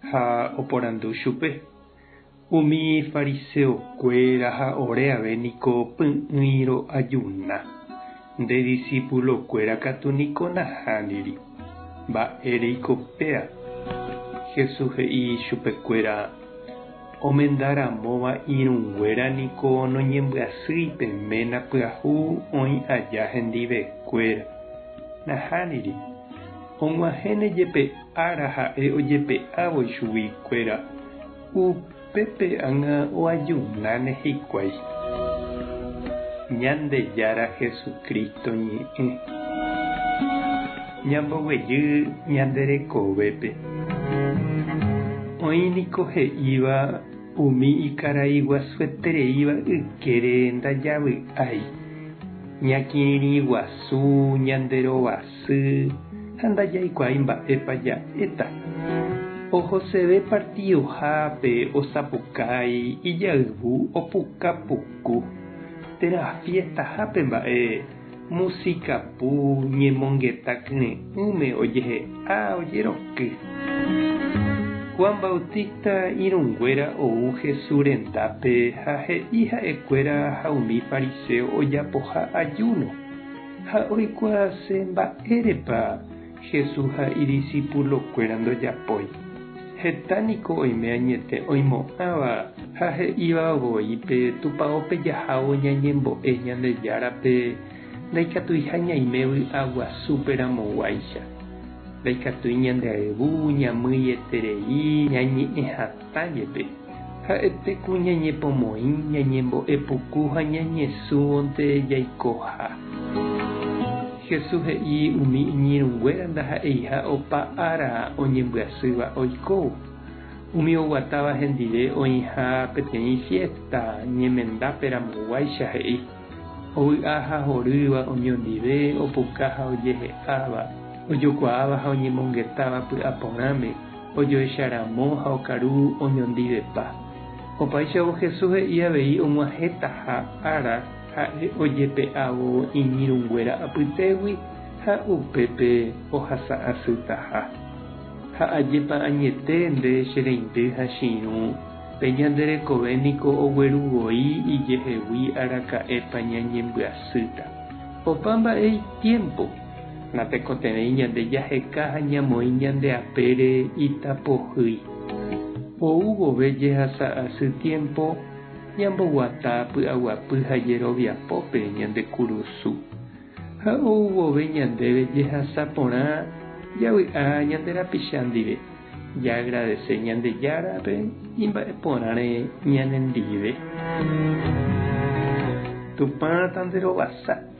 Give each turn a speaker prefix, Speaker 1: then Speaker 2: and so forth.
Speaker 1: Ha oporandu chupe umi fariseokuéra ha ore ave niko py'ỹi ro'ajuna, nde disipulokuéra katu niko nahániri. Mba'e reiko péa? Jesús he'i chupekuéra, Omenda ramóva irũnguéra niko noñembyasýi pe ména pyahu oĩ aja hendivekuéra. Nahániri. Og̃uahẽne jepe Ára ha'e ojepe'ávo ichugui kuéra, upépe ág̃a oajunáne hikuái. Ñandejára Jesucristo ñe'ẽ, ñamboguejy ñande rekovépe. Oĩ niko he'íva umi ikaraiguasuetereíva ykére ndajavy'ái, ñakirirĩ guasu, ñande rova Sy ha ndajaikuaái mba'épa ja'éta. Ohoseve partidohápe osapukái ijayvu opuka puku. Térã fiestahápe mba'e musikapu ñemongeta kyre'ỹme ojehe'a ojeroky. Juan Bautista irũnguéra ou Jesús rendápe ha he'i ha'ekuéra ha umi fariseo ojapoha ayúno. Ha oikuaase mba'érepa Jesús ha idisipulokuéra ndojapói. Heta niko oime añete oimo'ãva ha he'íva voi pe Tupaópe jahávo ñañembo'e Ñandejárape ndaikatuiha ñaime vy'a guasúpe ramoguáicha. Ndaikatúi ñandeayvu ñamýieterei ñañe'ẽ hatã. Tã jepe, ha'ete ku ñañepomoĩ, ñañembo'epuku ha ñañesũvonte jaikoha. Jesús he'i umi iñirũnguéra ndaha'eiha opa ára oñembyasýva oikóvo. Umi oguatáva hendive oĩha peteĩ fiésta ñemendápe ramoguáicha he'i, ovy'a ha horýva oñondive, opuka ha ojehe'áva, ojokuaáva ha oñemongetáva py'aporãme, ojoecha ramo ha okaru oñondivepa. Opáichavo Jesús he'i avei og̃uahẽtaha ára ha'e ojepe'ávo iñirũnguéra apytégui ha upépe ohasa asýtaha. Ha ajépa añete nde che reindy ha che irũ, pe ñande rekove niko ogueru voi ijehegui araka'épa ñañembyasýta. Opa mba'e itiémpo. Natekotevẽi ñande jaheka ha ñamoĩ ñande apére itapohýi. Ou vove jehasa asy tiémpo ñamboguata py'aguapy ha jeroviapópe ñande kurusu. Ha ou vove ñandéve jehasa porã javy'a ñande rapicha ndive, jaagradese Ñandejárape imba'eporãre ñanendive. Tupã tanderovasa.